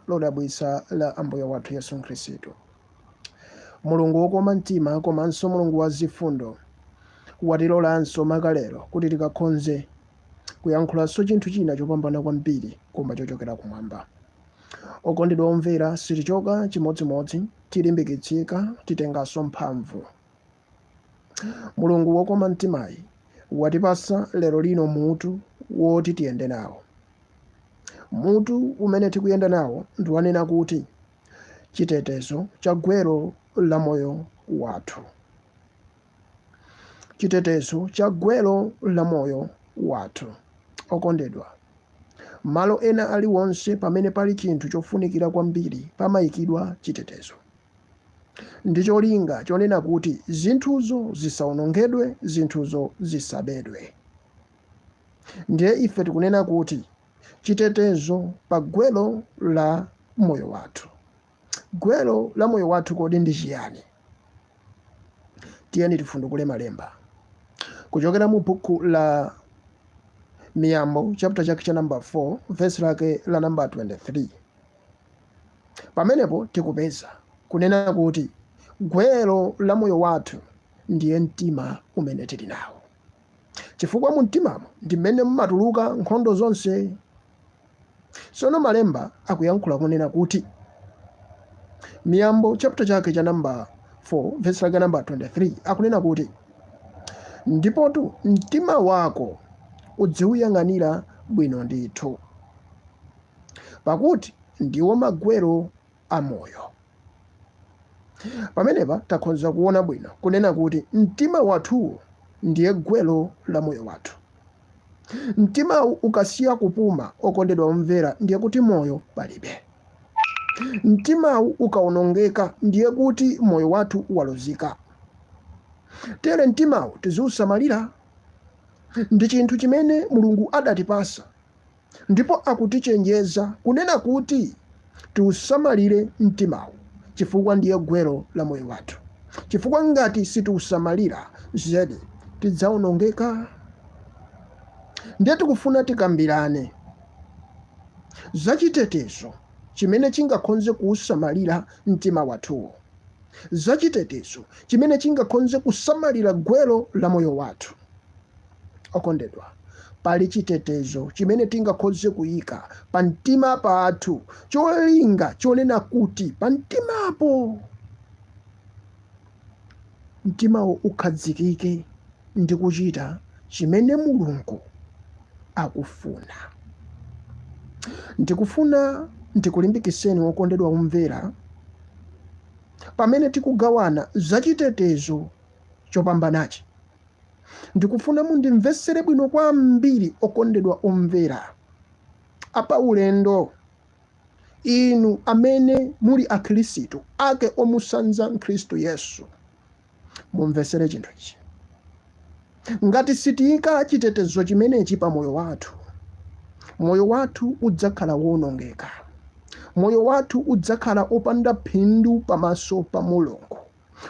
lodabwitsa la Ambuye wathu Yesu Khristu. Mulungu wokoma mtima komanso Mulungu wa zifundo watilolanso maka lero kuti tikakhonze kuyankhulanso chinthu china chopambana kwambiri koma chochokera kumwamba. Okondedwa omvera, sitichoka chimodzimodzi, tilimbikitsika, titenganso mphamvu. Mulungu wokoma mtimayi watipatsa lero lino mutu woti tiyende nawo. Mutu umene tikuyenda nawo ndi wonena kuti chitetezo cha gwero la moyo wathu. Chitetezo cha gwero la moyo wathu. Okondedwa, malo ena aliwonse pamene pali chinthu chofunikira kwambiri pamayikidwa chitetezo. ndi cholinga chonena kuti zinthuzo zisawonongedwe, zinthuzo zisabedwe. Ndiye ife tikunena kuti chitetezo pa gwero la moyo wathu. Gwero la moyo wathu kodi ndi chiyani? Tiyeni tifundukule malemba kuchokera mu buku la Miyambo chapter chake cha namba 4 verse lake la namba 23. Pamenepo tikupeza, kunena kuti, gwero la moyo wathu ndiye mtima umene tili nawo, chifukwa mumtimamo ndi mmene mumatuluka nkhondo zonse. Tsono Malemba akuyankhula kunena kuti, Miyambo chapter chake cha namba 4 vesi lake namba 23 akunena kuti, ndipotu mtima wako uziuyang'anira bwino ndithu. pakuti ndiwo magwero a moyo. Pamenepa takhonza kuona bwino kunena kuti mtima wathuwo ndiye gwero la moyo wathu. Mtimawu ukasiya kupuma, okondedwa omvera, ndiye kuti moyo palibe. Mtimawu ukawonongeka, ndiye kuti moyo wathu walozika. Tere mtimawu tiziusamalira. Ndi chinthu chimene Mulungu adatipatsa ndipo akutichenjeza kunena kuti tiusamalire mtimawu chifukwa ndiye gwero la moyo wathu, chifukwa ngati sitiusamalira, zedi tidzaonongeka. Ndiye tikufuna tikambirane za chitetezo chimene chingakhonze kuusamalira mtima wathuwo, za chitetezo chimene chingakhonze kusamalira gwero la moyo wathu. Okondedwa, pali chitetezo chimene tingakhoze kuyika pa mtima pathu, cholinga chonena kuti pa mtimapo, mtimawo ukhadzikike ndi kuchita chimene Mulungu akufuna. Ndikufuna ndikulimbikitseni wokondedwa omvera, pamene tikugawana za chitetezo chopambanachi, Ndikufuna mundimvetsere bwino kwambiri, okondedwa omvera, apaulendo inu amene muli Akhristu ake omutsanza Khristu Yesu. Mumvetsere chinthu ichi. Ngati sitiika chitetezo chimenechi pa moyo wathu, moyo wathu udzakhala woonongeka. Moyo wathu udzakhala opanda phindu pamaso pa Mulungu.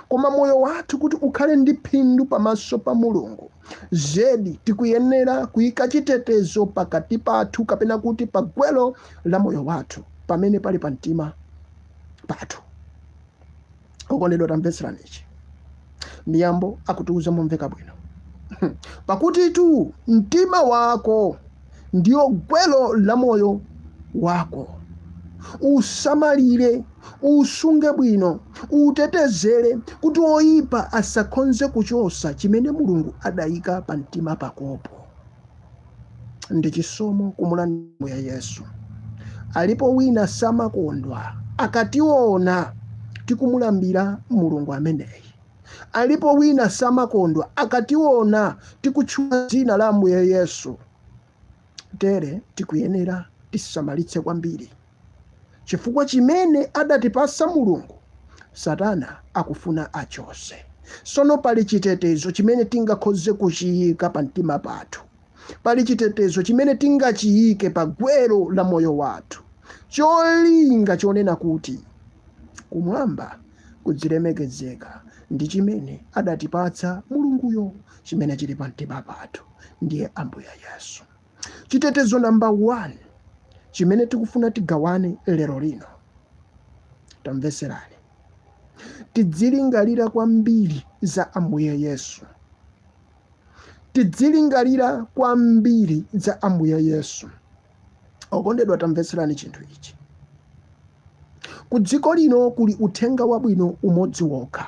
koma moyo wathu kuti ukhale ndi phindu pamaso pa mulungu zedi tikuyenera kuyika chitetezo pakati pathu kapena kuti pa gwelo la moyo wathu pamene pali pa mtima pathu okondedwa tamvetserani ichi miyambo akutiuza momveka bwino pakuti tu mtima wako ndiyo gwelo la moyo wako. Usamalire, usunge bwino, utetezere kuti woyipa asakhonze kuchosa chimene Mulungu adayika pa mtima pakopo. Ndi chisomo kumulandira Yesu. Alipo wina samakondwa akationa tikumulambira Mulungu ameneyi. Alipo wina samakondwa akationa tikutchula dzina la Ambuye Yesu? Tere tikuyenera tisamalitse kwambiri chifukwa chimene adatipasa Mulungu Satana akufuna achose. Sono pali chitetezo chimene tingakhoze kuchiyika pa mtima pathu. Pali chitetezo chimene tingachiyike pa gwero la moyo wathu. Cholinga chonena kuti kumwamba kudzilemekezeka ndi chimene adatipatsa mulunguyo chimene chili pa mtima pathu ndiye ambuye yesu chitetezo namba 1 chimene tikufuna tigawane lero lino tamveserani tidzilingalira kwambiri za ambuye yesu tidzilingalira kwambiri za ambuye yesu okondedwa tamvetserani chinthu ichi ku dziko lino kuli uthenga wabwino umodzi wokha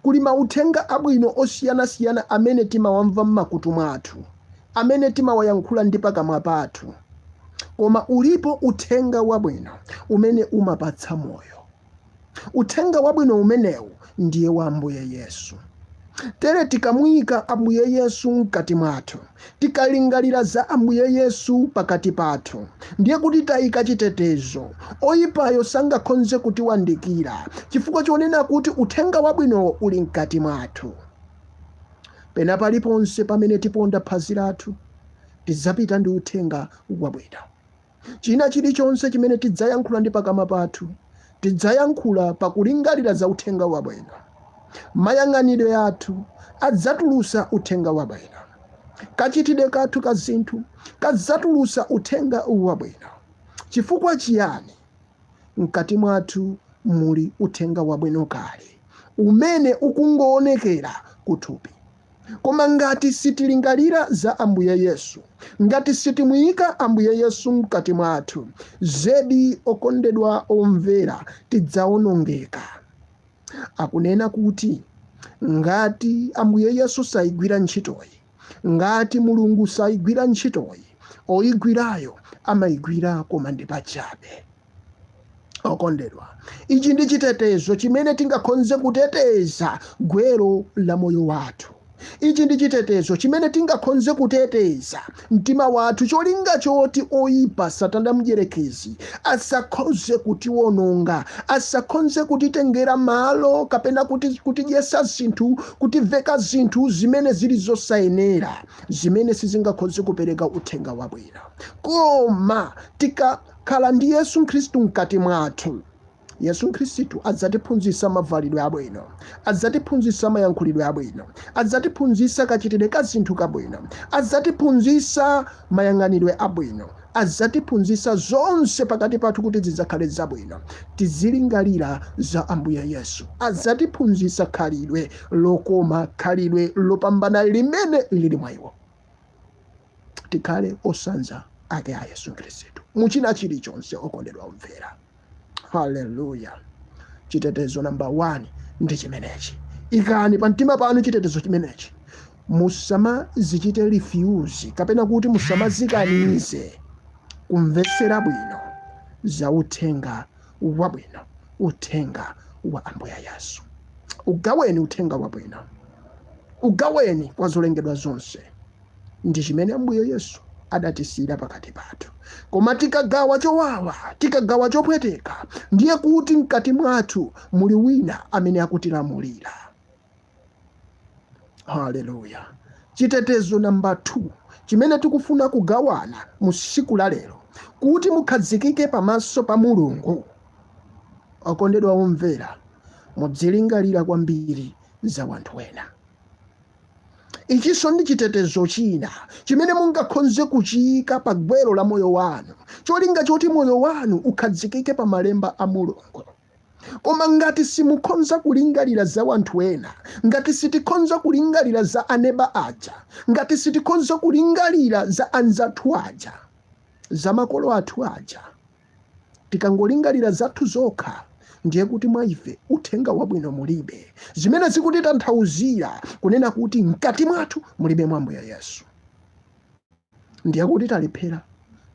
kuli mauthenga abwino osiyanasiyana amene timawamva m'makutu mwathu amene timawayankhula ndi pakamwa pathu koma ulipo uthenga wabwino umene umapatsa moyo Uthenga wabwino umenewu ndiye wa Ambuye Yesu. Tere tikamuyika Ambuye Yesu mkati mwathu, tikalingalira za Ambuye Yesu pakati pathu, ndiye kuti tayika chitetezo. Oyipayo sangakhonze kutiwandikira chifukwa chonena kuti Uthenga Wabwinowo uli mkati mwathu. Pena paliponse pamene tiponda phazi lathu, tidzapita ndi Uthenga Wabwino. China chilichonse chimene tidzayankhula ndi pakamwa pathu, tidzayankhula pakulingalira za uthenga wabwino. Mayang'anidwe athu adzatulusa uthenga wabwino. Kachitidwe kathu ka zinthu kadzatulusa uthenga wabwino. Chifukwa chiyani? Mkati mwathu muli uthenga wabwino kale umene ukungoonekera kuthupi. Koma ngati sitilingalira za Ambuye Yesu, ngati sitimuika Ambuye Yesu mkati mwathu, zedi, okondedwa omvera, tidzaonongeka. Akunena kuti ngati Ambuye Yesu saigwira ntchitoyi, ngati Mulungu saigwira ntchitoyi, oigwirayo amaigwira koma ndi pachabe. okondedwa ichi ndi chitetezo chimene tingakhonze kuteteza gwero la moyo wathu ichi ndi chitetezo chimene tingakhonze kuteteza mtima wathu cholinga choti oyipa satana mdyerekezi asakhonze kutiwononga asakhonze kutitengera malo kapena kuti kutidyesa zinthu kutiveka zinthu zimene zili zosayenera zimene sizingakhonze kupereka uthenga wabwino koma tika Khala ndi Yesu Khristu mkati mwathu. Yesu Khristu adzatiphunzitsa mavalidwe abwino, adzatiphunzitsa mayankhulidwe abwino, adzatiphunzitsa kachitidwe ka zinthu kabwino, adzatiphunzitsa mayang'anidwe abwino, adzatiphunzitsa zonse pakati pathu kuti zidzakhale zabwino. Tizilingalira za Ambuye Yesu. Adzatiphunzitsa khalidwe lokoma, khalidwe lopambana limene liri mwa iwo. tikhale otsanza ake a yesu khristu muchina chilichonse okondedwa omvera haleluya chitetezo namba 1 ndi chimenechi ikani pa mtima panu chitetezo chimenechi musamazichite refuse kapena kuti musamazikanize kumvetsera bwino za uthenga wabwino uthenga wa ambuye yesu ugaweni uthenga wabwino ugaweni kwa zolengedwa zonse ndi chimene ambuye yesu adatisiyira pakati pathu koma tikagawa chowawa tikagawa chopweteka ndiye kuti mkati mwathu muli wina amene akutilamulira haleluya chitetezo namba 2 chimene tikufuna kugawana mu siku la lero kuti mukhazikike pamaso pa mulungu okondedwa omvera mudzilingalira kwambiri za wanthu wena ichinso ndi chitetezo china chimene mungakhonze kuchiyika pa gwero la moyo wanu cholinga choti moyo wanu ukhazikike pa malemba a mulungu koma ngati simukhonza kulingalira za wanthu ena ngati sitikhonza kulingalira za aneba aja ngati sitikhonza kulingalira za anzathu aja za makolo athu aja tikangolingalira zathu zokha ndiye kuti mwa ife uthenga wabwino mulibe zimene zikutitanthauzira kunena kuti mkati mwathu mulibe mwa ambuye yesu ndiye kuti talephera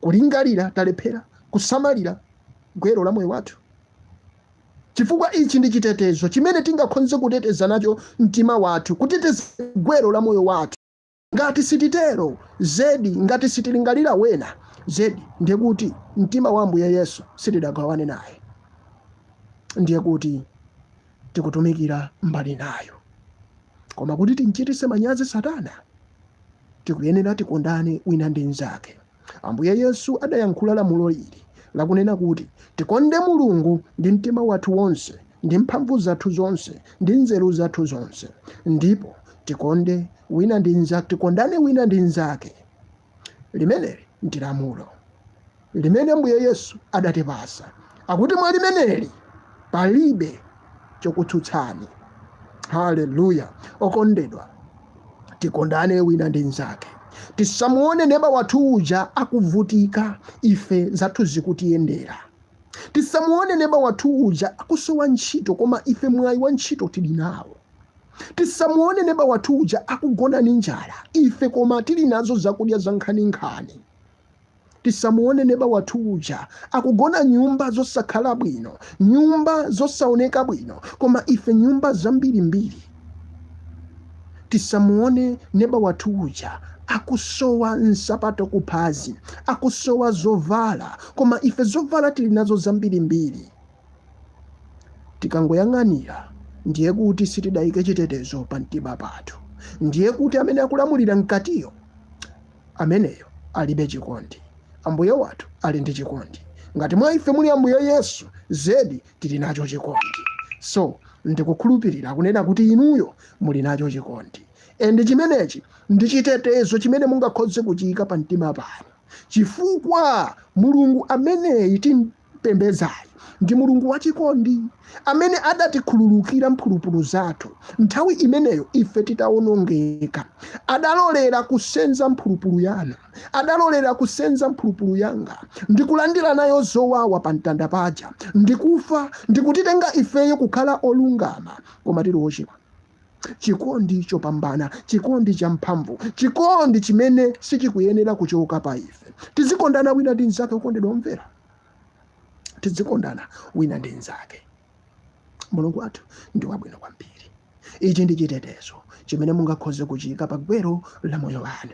kulingalira talephera kusamalira gwero la moyo wathu chifukwa ichi ndi chitetezo chimene tingakhonze kuteteza nacho mtima wathu kuteteza gwero la moyo wathu ngati sititero zedi ngati sitilingalira wena zedi ndiye kuti mtima wa ambuye yesu sitidagawane naye ndiye kuti tikutumikira mbali inayo koma kuti timchitise manyazi satana tikuyenera tikondane wina ndi mnzake ambuye yesu adayankhula lamulo ili lakunena kuti tikonde mulungu ndi mtima wathu wonse ndi mphamvu zathu zonse ndi nzeru zathu zonse ndipo tikonde wina ndi mnzake tikondane wina ndi mnzake limeneli ndi lamulo limene mbuye yesu adatipasa akuti mwa limeneli palibe chokutsutsani haleluya okondedwa tikondane wina ndi mnzake tisamuone neba wathu uja akuvutika ife zathu zikutiyendera tisamuone neba wathu uja akusowa ntchito koma ife mwayi wa ntchito tili nawo tisamuone neba wathu uja akugona ni njala ife koma tili nazo zakudya za nkhaninkhani tisamuone neba wathu uja akugona nyumba zosakhala bwino nyumba zosaoneka bwino koma ife nyumba zambirimbiri tisamuone neba wathu uja akusowa nsapato kuphazi akusowa zovala koma ife zovala tili nazo zambirimbiri Tikangoyang'anira, ndiye kuti sitidaike chitetezo pa mtima pathu, ndiye kuti amene akulamulira mkatiyo, ameneyo alibe chikondi. Ambuye wathu ali ndi chikondi. Ngati mwa ife muli Ambuye Yesu, zedi tili nacho chikondi. So, ndikukhulupirira kunena kuti inuyo muli nacho chikondi. And chimenechi ndi chitetezo chimene mungakhoze kuchiika pa mtima panu, chifukwa Mulungu ameneyi tim. Timpembedzayu ndi Mulungu wachikondi amene adatikhululukira mphulupulu zathu nthawi imeneyo ife titawonongeka. Adalolera kusenza mphulupulu yanu, adalolera kusenza mphulupulu yanga ndi kulandira nayo zowawa pa mtanda paja, ndikufa ndikutitenga ifeyo kukhala olungama koma tili ochimwa. chikondi chopambana chikondi champhamvu chikondi chimene sichikuyenera kuchoka pa ife tizikondana wina ndi mnzake okondedwa omvera tizikondana wina ndi mnzake mulungu wathu ndi wabwino kwambiri ichi ndi chitetezo chimene mungakhoze kuchiyika pa gwero la moyo wanu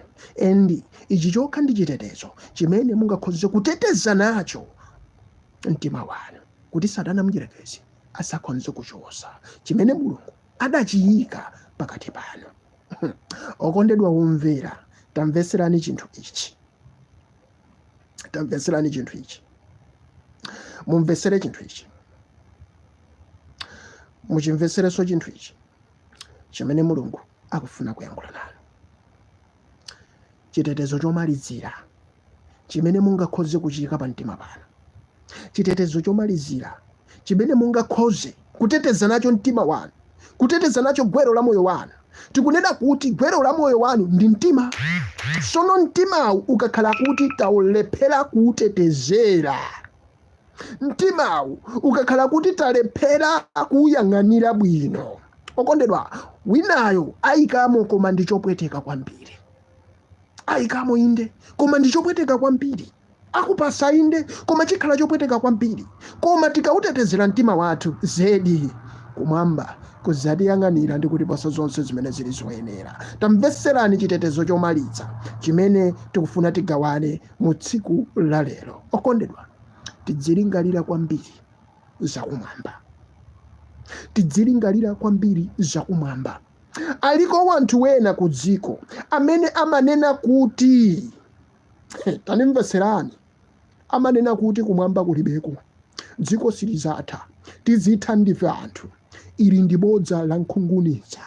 and ichi chokha ndi chitetezo chimene mungakhoze kuteteza nacho mtima wanu kuti satana mdyerekezi asakhonze kuchosa chimene mulungu adachiyika pakati panu okondedwa omvera tamvetserani chinthu ichi tamvetserani chinthu ichi mumvetsere chinthu ichi muchimvetserenso chinthu ichi chimene mulungu akufuna kuyankhula nanu chitetezo chomalizira chimene mungakhoze kuchiyika pa mtima panu chitetezo chomalizira chimene mungakhoze kuteteza nacho mtima wanu kuteteza nacho gwero la moyo wanu tikunena kuti gwero la moyo wanu ndi mtima sono mtimawu ukakhala kuti taulephera kuutetezera mtimawu ukakhala kuti talephera kuwuyang'anira bwino okondedwa winayo ayikamo koma ndi chopweteka kwambiri ayikamo inde koma ndi chopweteka kwambiri akupasa inde koma chikhala chopweteka kwambiri koma tikawutetezera mtima wathu zedi kumwamba kuzatiyang'anira ndi kutipasa zonse zimene zili zoyenera tamvetserani chitetezo chomaliza chimene tikufuna tigawane mu tsiku la lero okondedwa tidzilingalira kwambiri zakumwamba tidzilingalira kwambiri zakumwamba aliko wanthu wena ku dziko amene amanena kuti tanimvetserani amanena kuti kumwamba kulibeko dziko silizatha tizitha ndife anthu ili ndi bodza la nkhunguniza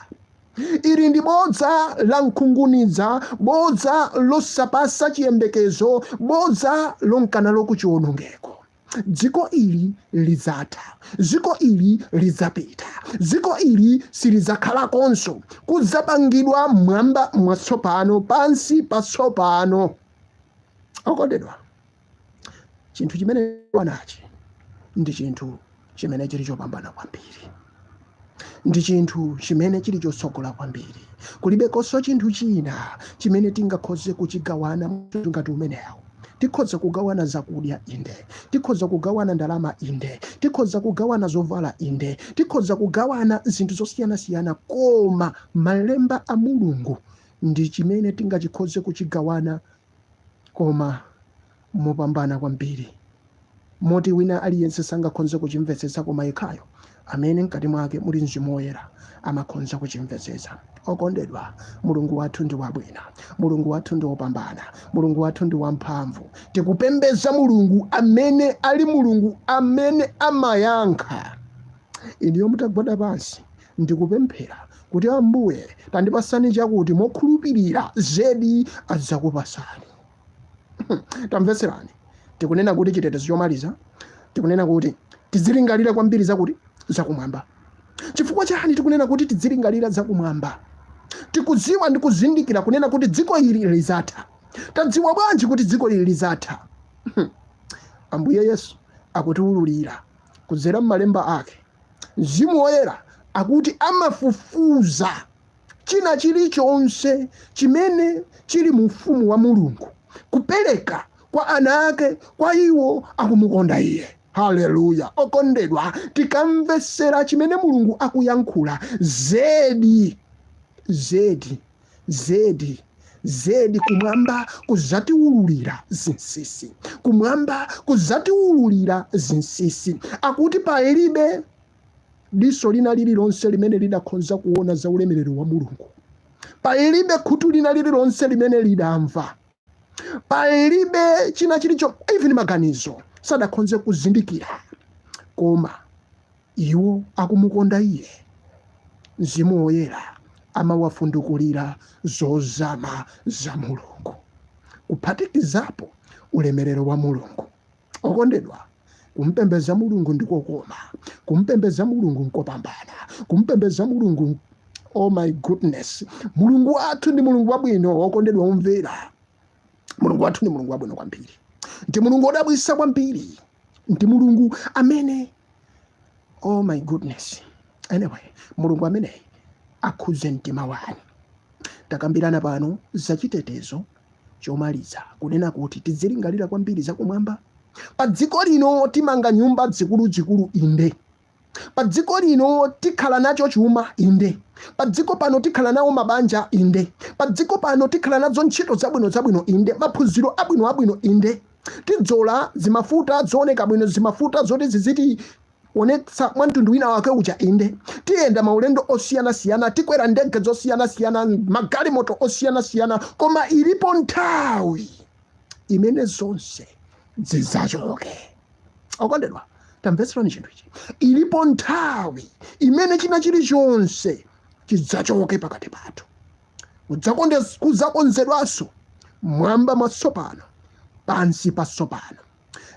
Ili ndi bodza la nkhunguniza, bodza losapasa chiyembekezo, bodza lonka nalo ku chiwonongeko. Dziko ili lidzatha, dziko ili lidzapita, dziko ili silidzakhalakonso. Kudzapangidwa mwamba mwatsopano, pansi patsopano. Okondedwa, chinthu chimenechi ndi chinthu chimene chili chopambana kwambiri ndi chinthu chimene chili chotsogola kwambiri kulibekonso chinthu china chimene tingakhoze kuchigawana ngati umenewo tikhoza kugawana zakudya inde tikhoza kugawana ndalama inde tikhoza kugawana zovala inde tikhoza kugawana zinthu zosiyanasiyana koma malemba a mulungu ndi chimene tingachikhoze kuchigawana koma mopambana kwambiri moti wina aliyense sangakhonze kuchimvetsetsa koma yekhayo amene mkati mwake muli mzimu woyera amakhonza kuchimvetsetsa okondedwa mulungu wathu ndi wabwino mulungu wathu ndi wopambana mulungu wathu ndi wamphamvu tikupembeza mulungu amene ali mulungu amene amayankha inuyo mutagwada pansi Ndi kupemphera kuti Ambuye tandipasani chakuti mokhulupirira zedi adzakupasani. Tamvetserani, tikunena kuti chitetezo chomaliza, tikunena kuti tidzilingalira kwambiri zakuti zakumwamba. Chifukwa chani tikunena kuti tidzilingalira zakumwamba? Tikudziwa ndi kuzindikira kunena kuti dziko ili lizatha. Tadziwa bwanji kuti dziko ili lizatha? Ambuye Yesu akutiululira kudzera m'malemba ake, Mzimu Woyera akuti amafufuza china chilichonse chimene chili mu ufumu wa Mulungu, kupereka kwa ana ake, kwa iwo akumukonda Iye. Haleluya! Okondedwa, tikamvetsera chimene Mulungu akuyankhula, zedi zedi Zedi, zedi kumwamba kuzatiwululira zinsisi, kumwamba kuzatiwululira zinsisi. Akuti palibe diso lina lililonse limene lidakhonza kuona za ulemerero wa Mulungu, palibe khutu lina lililonse limene lidamva, palibe china chilicho, even maganizo sadakhonze kuzindikira. Koma Iwo akumukonda Iye. Mzimu Woyera amawafundukulira zozama za Mulungu, kuphatikizapo ulemerero wa Mulungu. Okondedwa, kumpembeza Mulungu ndi kokoma. Kumpembeza Mulungu nkopambana. Kumpembeza Mulungu, oh my goodness, Mulungu wathu ndi Mulungu wabwino. Okondedwa omvera, Mulungu wathu ndi Mulungu wabwino kwambiri, ndi Mulungu wodabwisa kwambiri. ndi mulungu amene oh my goodness anyway mulungu ameneyi akhudze mtima wanu takambirana pano za chitetezo chomaliza kunena kuti tidzilingalira kwambiri zakumwamba pa dziko lino timanga nyumba zikuluzikulu inde Pa dziko lino tikhala nacho chuma, inde. Pa dziko pano tikhala nawo mabanja, inde. Pa dziko pano tikhala nazo ntchito zabwino zabwino, inde. Maphunziro abwino abwino, inde. Tidzola zimafuta zooneka bwino, zimafuta zoti zizitionetsa mwa mtundu wina wake uja, inde. Tiyenda maulendo osiyana siyana, tikwera ndege zosiyana siyana, magalimoto osiyana siyana, koma ilipo nthawi imene zonse zidzachoke. okondedwa tamvetserani chinthu ichi ilipo nthawi imene china chilichonse chidzachoke pakati pathu kudzakonzedwanso mwamba mwatsopano pansi patsopano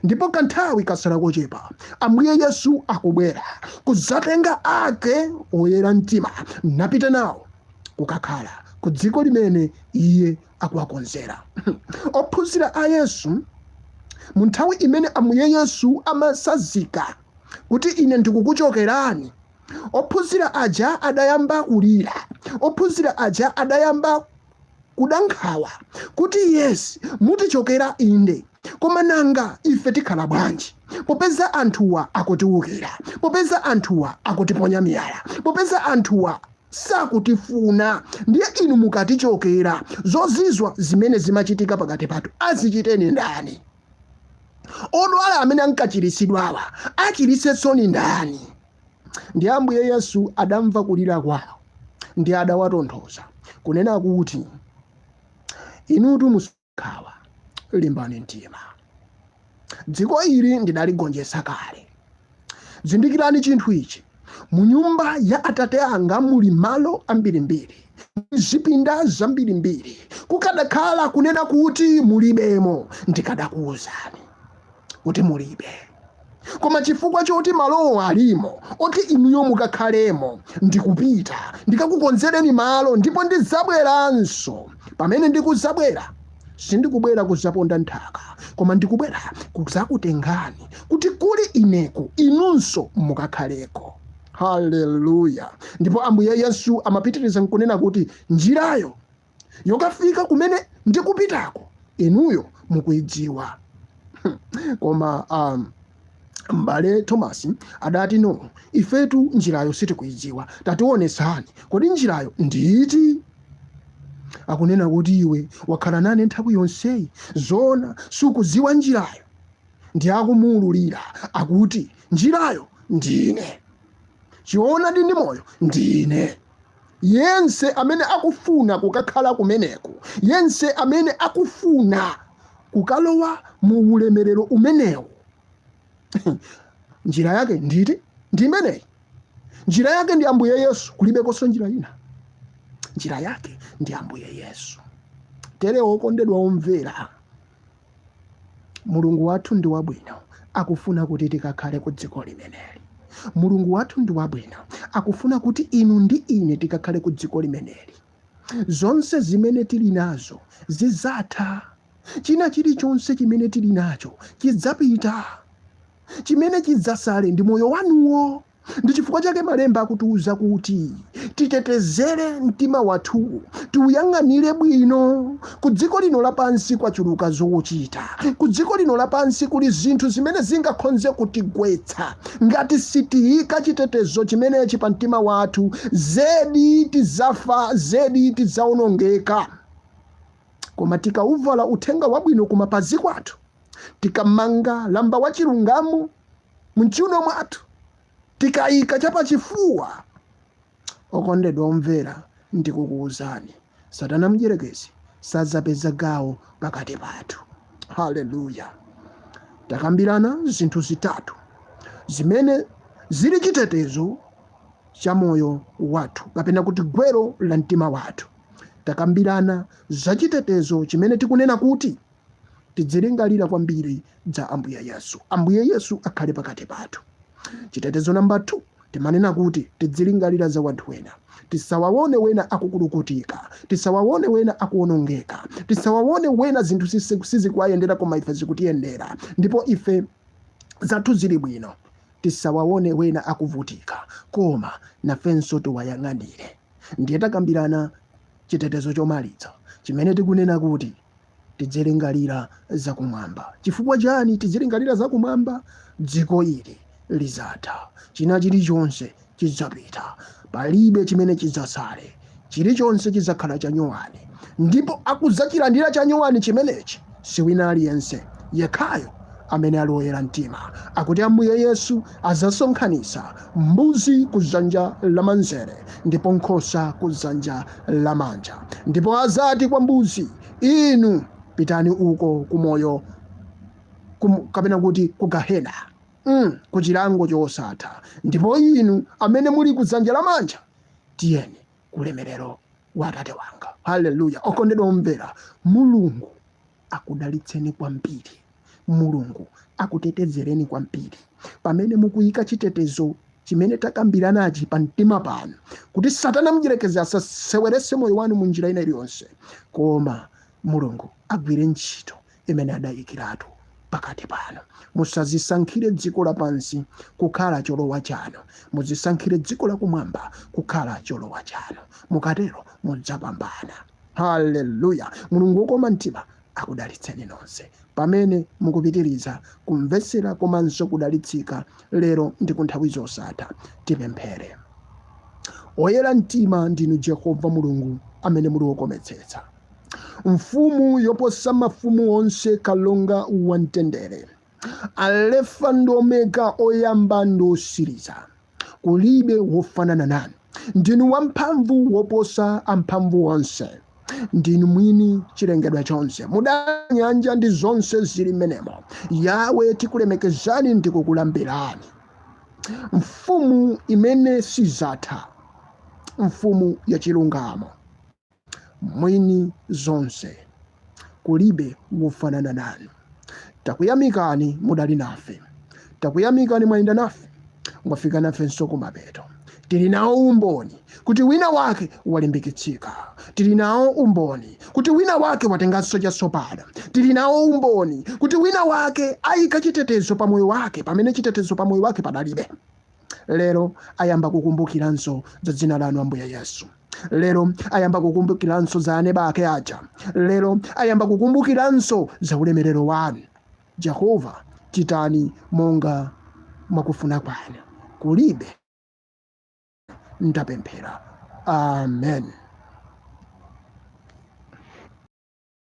ndipo kanthawi katsala kochepa ambuye yesu akubwera kudzatenga ake oyera mtima napita nawo kukakhala ku dziko limene iye akuwakonzera. Ophunzira a Yesu mu nthawi imene Ambuye Yesu amasazika kuti ine ndikukuchokerani, ophunzira aja adayamba kulira, ophunzira aja adayamba kuda nkhawa kuti Yesu mutichokera inde koma nanga ife tikhala bwanji popeza anthuwa akutiwukira popeza anthuwa akutiponya miyala popeza anthuwa sakutifuna ndiye inu mukatichokera zozizwa zimene zimachitika pakati pathu azichite ndi ndani odwala amene ankachiritsidwawa achiritsenso ndi ndani ndi ambuye yesu adamva kulira kwawo ndi adawatonthoza kunena kuti inutu mus nkhawa limbani mtima dziko ili ndidaligonjetsa kale zindikirani chinthu ichi mu nyumba ya atate anga muli malo ambirimbiri zipinda zambirimbiri kukadakhala kunena kuti mulibemo ndikadakuwuzani kuti mulibe koma chifukwa choti malowo alimo oti inuyo mukakhalemo ndikupita ndikakukonzereni malo ndipo ndizabweranso pamene ndikuzabwera sindikubwera kuzaponda nthaka koma ndikubwera kuzakutengani kuti kuli ineko inunso mukakhaleko haleluya ndipo ambuye yesu amapitiriza nkunena kuti njirayo yokafika kumene ndikupitako inuyo mukuidziwa koma a m'bale thomas adati no ifetu njirayo sitikuidziwa tatiwonetsani kodi njirayo ndiiti akunena kuti iwe wakhala nane nthawi yonseyi zona sukudziwa njirayo ndi akumuwululira akuti njirayo ndine choonadi ndi moyo ndine yense amene akufuna kukakhala kumeneko, yense amene akufuna kukalowa mu ulemerero umenewo, njira yake nditi? Ndi imeneyi. Njira yake ndi Ambuye Yesu, kulibekonso njira ina. Njira yake ndi Ambuye Yesu. Tere okondedwa omvera, Mulungu wathu ndi wabwino, akufuna kuti tikakhale ku dziko limeneli. Mulungu wathu ndi wabwino, akufuna kuti inu ndi ine tikakhale ku dziko limeneli. Zonse zimene tili nazo zidzatha. China chilichonse chimene tili nacho chidzapita. Chimene chidzasale ndi moyo wanuwo. ndi chifukwa chake malemba akutiuza kuti titetezere mtima wathu tiuyang'anire bwino ku dziko lino lapansi kwachuluka zochita ku dziko lino lapansi kuli zinthu zimene zingakhonze kutigwetsa ngati sitiyika chitetezo chimenechi pa mtima wathu zedi tizafa zedi tizaonongeka koma tikauvala uthenga wabwino kumapazi kwathu tikamanga lamba wa chilungamo mchiuno mwathu tikaika chapachifuwa okondedwa omvera ndikukuwuzani satana mdyerekezi sadzapeza gawo pakati pathu haleluya takambirana zinthu zitatu zimene zili chitetezo cha moyo wathu kapena kuti gwero la mtima wathu takambirana za chitetezo chimene tikunena kuti tidzilingalira kwambiri za ambuye yesu ambuye yesu akhale pakati pathu chitetezo namba 2 timanena kuti tidzilingalira za wanthu wena tisawawone wena akukulukutika tisawawone wena akuwonongeka tisawawone wena zinthu sisi- sizikuwayendera koma ife zikutiyendera ndipo ife zathu zili bwino tisawawone wena akuvutika koma nafenso tiwayang'anire ndiye takambirana chitetezo chomaliza chimene tikunena kuti tidzilingalira zakumwamba. Chifukwa chani tidzilingalira zakumwamba? Dziko ili lizatha, china chilichonse chidzapita, palibe chimene chidzatsale, chilichonse chidzakhala chanyowani, ndipo akudzachirandira chanyowani chimenechi siwina aliyense yekhayo amene ali oyera mtima akuti ambuye yesu adzasonkhanitsa mbuzi ku dzanja lamanzere ndipo nkhosa ku dzanja lamanja ndipo azati kwa mbuzi inu pitani uko kumoyo kum, kapena kuti ku gahena mm, ku chilango chosatha ndipo inu amene muli ku dzanja lamanja tiyeni kulemerero wa atate wanga haleluya okondedwa omvera mulungu akudalitseni kwambiri. Mulungu akutetezereni kwambiri pamene mukuyika chitetezo chimene takambiranachi pa mtima panu kuti satana mdyerekezi asaseweretse moyo wanu mu njira ina iliyonse koma mulungu agwire ntchito imene adayikiratu pakati panu musazisankhire dziko lapansi kukhala cholowa chanu muzisankhire dziko lakumwamba kukhala cholowa chanu mukatero mudzapambana Haleluya! Mulungu wokoma mtima akudalitseni nonse pamene mukupitiriza kumvetsera komanso kudalitsika lero ndi kunthawi zosatha. Tipemphere. Oyera mtima ndinu Jehova Mulungu amene muli wokometsetsa, mfumu yoposa mafumu onse, kalonga wamtendere. alefa ndi omega oyamba ndi osiriza kulibe wofanana nanu ndinu wamphamvu woposa amphamvu onse ndinu mwini chilengedwa chonse mudalenga nyanja ndi zonse zili mmenemo yawe tikulemekezani ndi kukulambirani mfumu imene sidzatha mfumu yachilungamo mwini zonse kulibe wofanana nanu takuyamikani mudali nafe takuyamikani mwayenda nafe mwafika nafenso kumapeto tili nawo umboni kuti wina wake walimbikitsika tili nawo umboni kuti wina wake watenganso chatsopano tili nawo umboni kuti wina wake ayika chitetezo pa moyo wake pamene chitetezo pa moyo wake padalibe lero ayamba kukumbukiranso za dzina lanu ambuye yesu lero ayamba kukumbukiranso za aneba ake aja lero ayamba kukumbukiranso za ulemerero wanu jehova chitani monga mwakufuna kwanu kulibe ndapemphera amen